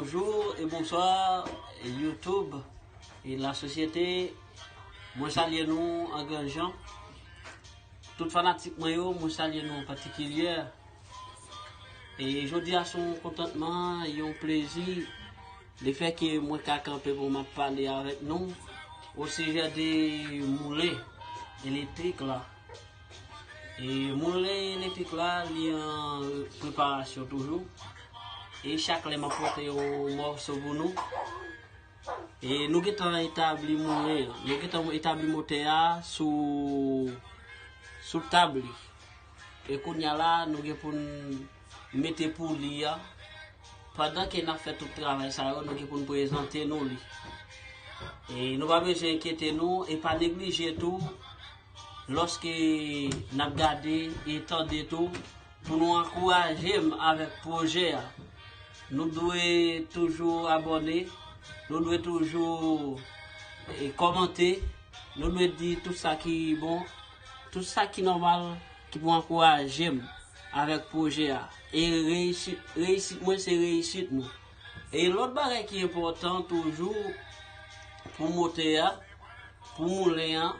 Bonjour et bonsoir YouTube et la sosyete Mwen salye nou an gran jan Tout fanatik mwen yo mwen salye nou an patikilyè E jodi a son kontantman, yon plezi Le fè ke mwen ka kanpe pou mwen pale avèk nou O sijè de moulen elektrik la E moulen elektrik la li an preparasyon toujou. E chak lè mwen pote yo mòso pou nou. E nou gen tan etabli moulen, nou gen tan etabli motè a sou sou tab li. E kounya la nou gen pou nou mete pou li a. Pandan ke nan fè tout travay sa yo, nou gen pou nou prezante nou li. E nou pa bezwen enkyete nou, e pa neglije tou. Lòske n ap gade e tande tou pou nou ankouraje m avèk pwojè a. Nou dwe toujou abòne, nou dwe toujou kòmante, nou dwe di tout sa ki bon, tout sa ki nòmal ki pou ankouraje m avèk pwojè a. E reyisit mwen se reyisit nou. E lòt bagay ki enpòtan toujou pou motè a, pou moulen an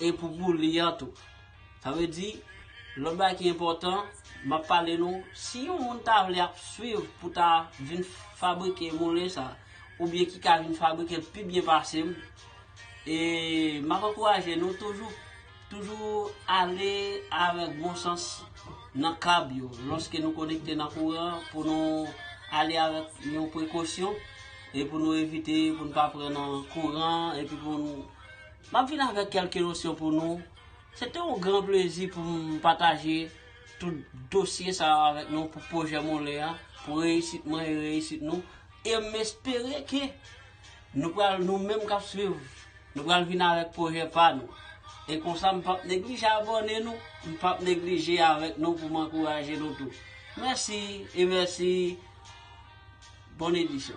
e pou boule an tou. Sa vle di, lòt bagay ki enpòtan, m ap pale nou, si yon moun ta vle ap swiv pou ta vin fabrike moulen sa, oubyen ki ka vin fabrike l pi byen pase m, e m ap ankouraje nou toujou Toujou ale avèk bon sans nan kab yo lòske nou konekte nan kouran pou nou ale avèk yon prekosyon e pou nou evite pou nou pa pran nan kouran epi pou nou M ap vin avèk kèlke nosyon pou nou Se te yon gran plezi pou m pataje tout dosye sa yo avèk nou pou pwojè Moulin an pou reyisit mwen e reyisit nou e m espere ke Nou pral, nou menm kap swiv, nou pral vin avèk pwojè pa nou. E konsa m pap neglije abòne nou, m pap neglije avèk nou pou m ankouraje nou tou. Mèsi e mèsi Bon edisyon.